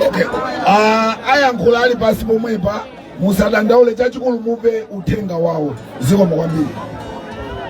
Okay. Ah, ayankhula ali pasi pomwepa musadandaule chachikulu mupe uthenga wawo zikomo kwambiri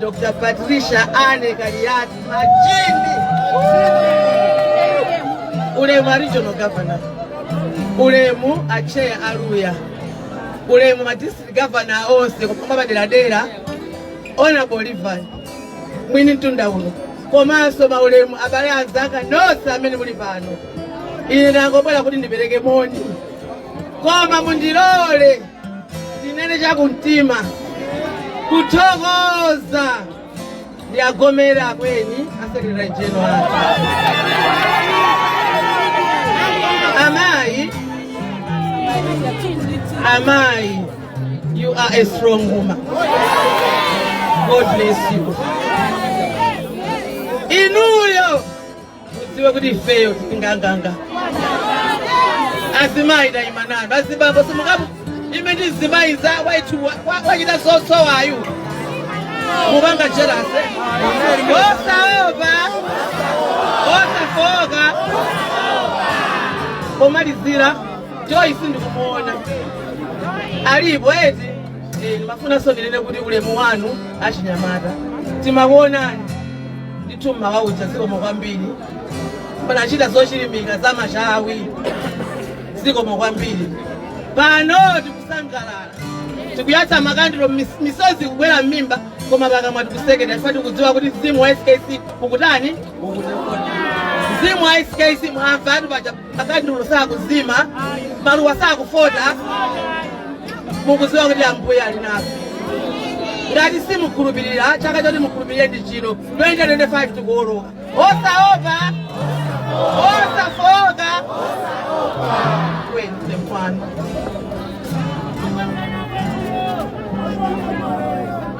Dr. Patricia Anne Kaliati Macheni ulemu a regional governor ulemu a chair a Luya ulemu ma district governor onse kupanga paderadera honorable Levi mwini mtunda uno komanso maulemu abale anzanga nonse amene muli pano ine ndangobwera kuti ndipereke moni koma mundilole ndinene chakumtima kuthokoza ndi a Gome la akweni a secretary general amayi amayi you are a strong woman god bless you inuyo mudziwe kuti ifeyo tili nganganga azimayi tayima nanu azibambo simukamuime ndi mzimayi mzawoyitu wachita zosowayu musapange jelasi osaopa osafooka pomalizira Joyce sindikumuona alipo eti Eh, ndimafunanso ndinene kuti ulemu wanu achinyamata timakuonani ndithu mmawa uja zikomo kwambiri munachita zochilimika zamachawi zikomo kwambiri pano tikusangalala tikuyatsa makandiro mis- misozi kugwera m'mimba koma pakamwa tikusekerera chifukwa tikudziwa kuti mzimu wa skc ukutani mzimu wa skc mwamva ati paja makandulo sakuzima maluwa sakufota mukuziwa kuti ambuye ali nafe ngati simukhulupirira chaka choti mukhulupirire ndi chino 2025 tikuwoloka osaopa osafooka kwende kwanu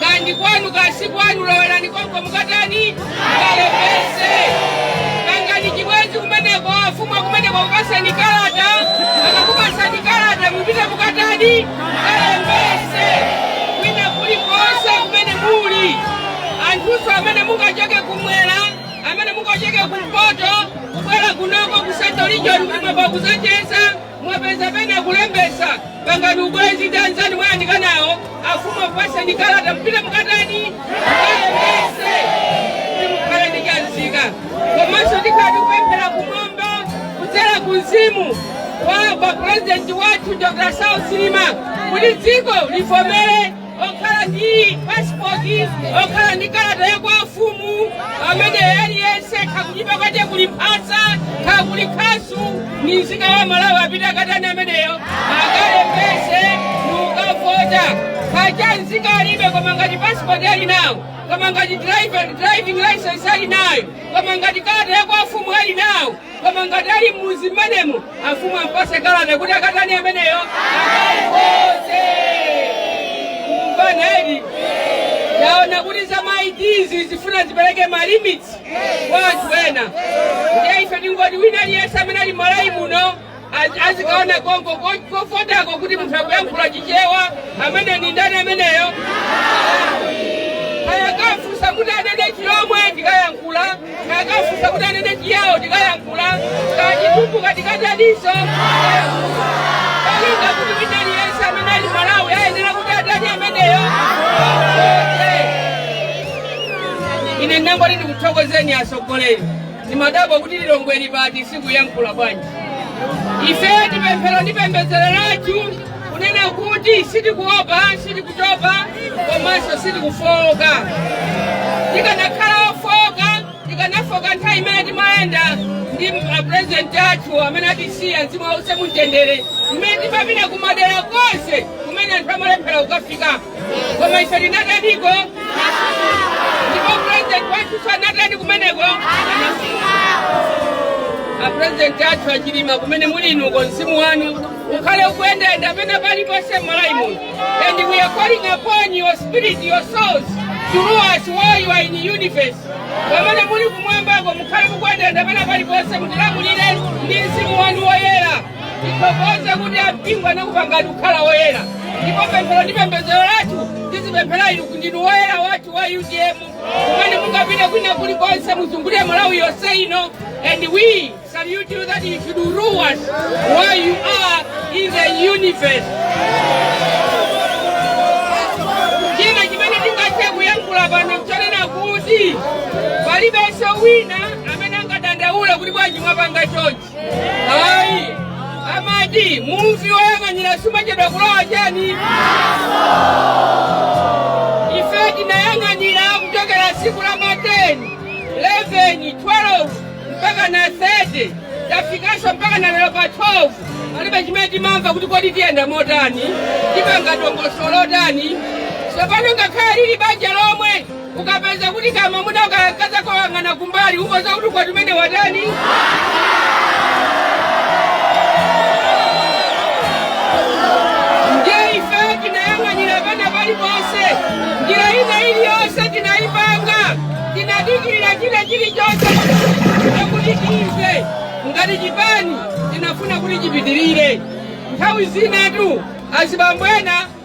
kandi kwanu kasi kwanu lowerani konko mukatani mukalembese pangani chibwenzi kumeneko afumu akumeneko akupaseni kalata akakupasani kalata mupite mukatani mukalembese kwina kuli konse kumene muli anthuso amene mungachoke kumwera amene mungachoke kumpoto kubwera kunoko ku central region kuti mwabwera kuzacheza Mwapeza pena kulembesa pangani ubwenzi ndi anzanu mwayandika nawo afumu akupaseni kalata mupite mukatani mukalembese mukhala ndi chanzika komanso tikhale ti kupemphera kumwamba kudzera ku mzimu wa kwa purezidenti wathu dr Saulos Chilima kuti dziko livomere wokhala ndi pasipoti wokhala ndi kalata ya kwa afumu amene aliyense ngati kunyumba kwake kuli mphasa ngati kuli khasu ni mzika wa malawi apite akatani ameneyo akalembese nukavota ngati cha mzika alibe koma ngati pasipoti ali nawo koma ngati driver- driving license ali nayo koma ngati kalata ya kwa afumu ali nawo koma ngati ali m'mudzi mmenemo afumu ampase kalata kuti akatani ameneyo akavote kumvana edi taona kuti za maidizi zifuna zipereke malimits kwa anthu ena ndiye ife tingoti wina aliyense amene ali m'malawi muno azikaone konko kovotako kuti munthu akuyankhula chichewa amene ni ndani ameneyo ngati akamufunsa kuti anene chilomwe n'kuyankhula ngati akamufunsa kuti anene chiyawo n'kuyankhula ngati chitumbuka n'kutaniso malinga kuti wina aliyense amene ali m'malawi ayenera kuti atani ameneyo ine ndinangoti ndikuthokozeni atsogoleri Ndimadabwa kuti Lilongwe ili pati sikuyankhula bwanji? Ife ndi pemphero ndi pembedzero lathu kunena kuti sitikuopa, sitikutopa komanso sitikufowoka. Tikanakhala ofowoka tikanafoka nthawi imene timayenda ndi apurezidenti athu amene atisiya mzimu wawo uuse mumtendere, mmene timapita kumadera konse kumene anthu amalephera kukafika. koma ife tinataniko ndipo purezidenti wathuso anatani kumeneko apurezidenti athu achilima kumene muli inuko mzimu wanu ukhale ukuyendayenda pena paliponse m'malawi muno and we are calling upon your spirit your soul to rule us while you are in the universe pamene muli kumwambako mukhale mukuyendayenda pena paliponse mutilamulire ndi mzimu wanu woyera tithokoze kuti ampingo anakupangani kukhala woyera ndipo pemphero ndi pembedzero lathu tizipemphera inu kuti ndinu woyera wathu wa utm kumene mungapite kwina kulikonse muzungulire malawi yonse ino and we salute you that you should rule us while you are in the universe china chimene tingathe kuyankhula pano mchonena kuti palibenso wina amene angadandaule kuti bwanji mwapanga chonchi ayi amati mubvi woyang'anira suchedwa kulowa chani ife tinayang'anira kuchokera tsiku la ma 10 11 12 mpaka na 30 tafikanso mpaka na lero pa 12 palibe chimene timamva kuti kodi tiyenda motani tipanga dongosolo lotani tsopano ngakhale lili banja lomwe ukapeza kuti kamamuna ukayakaza koyang'ana kumbali ukoza kuti ukwati umene watani ndiye ife tinayang'anira pena paliponse njira ina iliyonse tinayipanga tinadikirira china chilichonse kuti timve ngati chipani tinafuna kuti chipitirire nthawi zinatu azibambo ena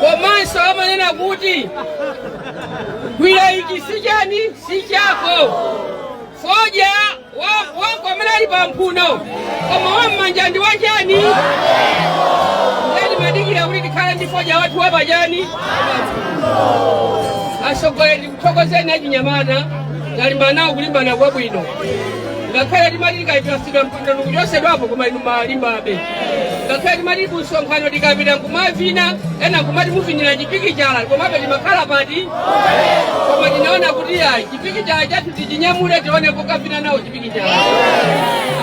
komanso amanena kuti gwira ichi si chani si chako fodya wa- wako amene ali pa mphuno koma wam'manja ndi wachani nde timadikira kuti tikhale ndi fodya wathu wapachani atsogoleri tikuthokozeni achinyamata kulimbana kulimbana kwabwino ngakhale timati tikapatsidwa mpando nkuchosedwapo koma inu mumalimbabe ngakhale timati kusonkhano tikapita nkumavina ena nkumati muvinira chipikichala komabe timakhala pati koma tinaona kuti ayi chipikichala chathu tichinyamule tione pokavina nawo chipikichala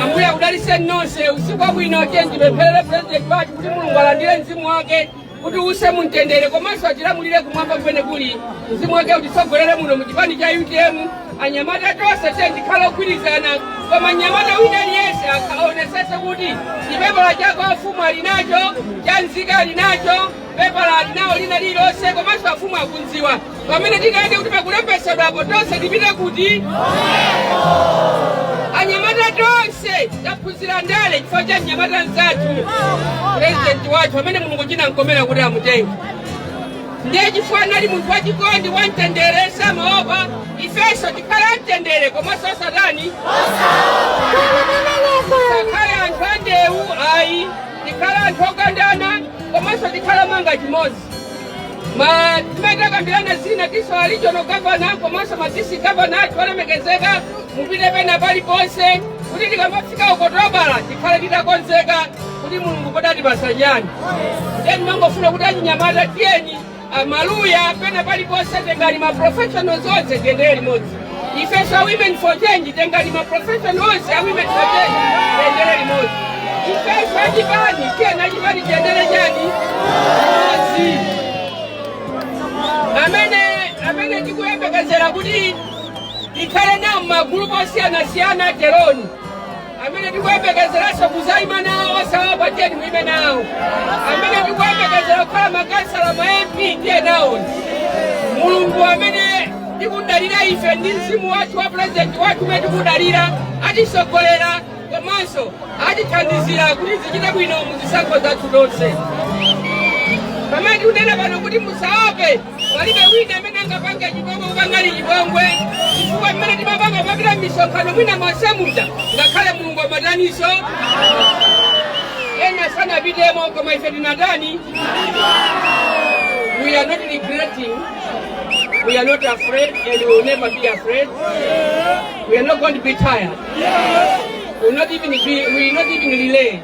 ambuye akudaliseni nonse usiku wabwino tiyeni timpempherere pulezidenti wathu kuti mulungu alandire mzimu wake kuti uuse mumtendere komanso atilamulire kumwamba kumene kuli mzimu wake utitsogolere muno mu chipani cha utm anyamata tonse tiyeni tikhale ogwirizana koma nyamata wina aliyense akaonesese kuti chipepala cha kwa afumu ali nacho cha nzika ali nacho pepala ali nawo lina lililonse komanso afumu akunziwa pamene tikanene kuti pakulembetsedwapo tonse tipite kuti anyamata tonse taphunzira ndale chifukwa cha mnyamata mzathu purezidenti wathu amene mulungu chinamkomera kuti amutenge ndiye chifukwa anali munthu wachikondi wamtendere samaopa ifenso tikhale amtendere komanso tisati tikhale anthu andewu ayi tikhale anthu okondana komanso tikhale nganga imodzi Ma timene takambirana zina tisowa regional governor komanso ma district governor athu olemekezeka mupite pena paliponse kuti tikamafika Okutobala tikhale titakonzeka kuti mulungu kodi atipasa chani ndiye timangofuna kuti achinyamata tiyeni a Maluwa pena paliponse tengani ma professionals onse tiyendere limodzi ifenso a women for change tengani ma profession onse a women for change tiyendere limodzi ifenso achipani tiyeni achipani tiyendere chani limodzi amene amene tikuyembekezera kuti tikhale nawo magulupu osiyanasiyana teroni amene tikuyembekezeranso kuzaima nawo osaopa tiyeni muime nawo amene tikuyembekezera kukhala makansala ma mp tiye nawo mulungu amene tikudalira ife ndi mzimu wathu wa purezidenti wathu umene tikudalira atisogolera komanso atithandizira kuti zichite bwino mu zisankho zathu zonse pamene tikunena pano kuti musaope Palibe wina amene angapange chipongwe kupangani chipongwe chifukwa mmene timapanga popita misonkhano mwina monse muja ngakhale mulungu amadanidwa nso ena sanapitemo koma ife tinatani we are not regretting we are not afraid and we will never be afraid we are not going to be tired we will not even, be, we will not even relent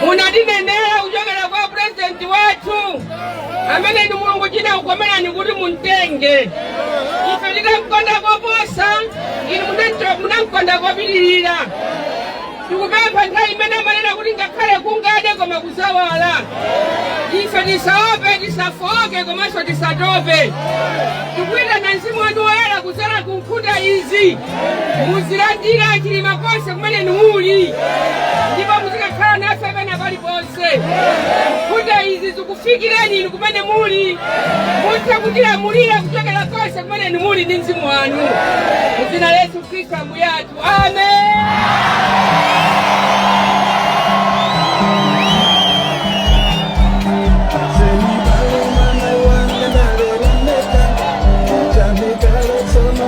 munatinenera kuchokera kwa purezidenti wathu amene ndi mulungu chinakukomerani kuti mumtenge ife tikamkonda koposa inu munamcho- munamkonda kopitirira tikupempha nthawi imene amanena kuti ngakhale kungade koma kudzawala ife tisaope tisafoke komanso tisatope tikuyitana mzimu wanu woyera kudzadza nkhunda izi muzilandira chilima konse kumene inu muli ndipo muzikakhala nafe pena paliponse nkhunda izi zikufikirani inu kumene muli mutha kutilamulira kuchokera konse kumene inu muli ndi mzimu wanu mu dzina la yesu khristu ambuye athu amen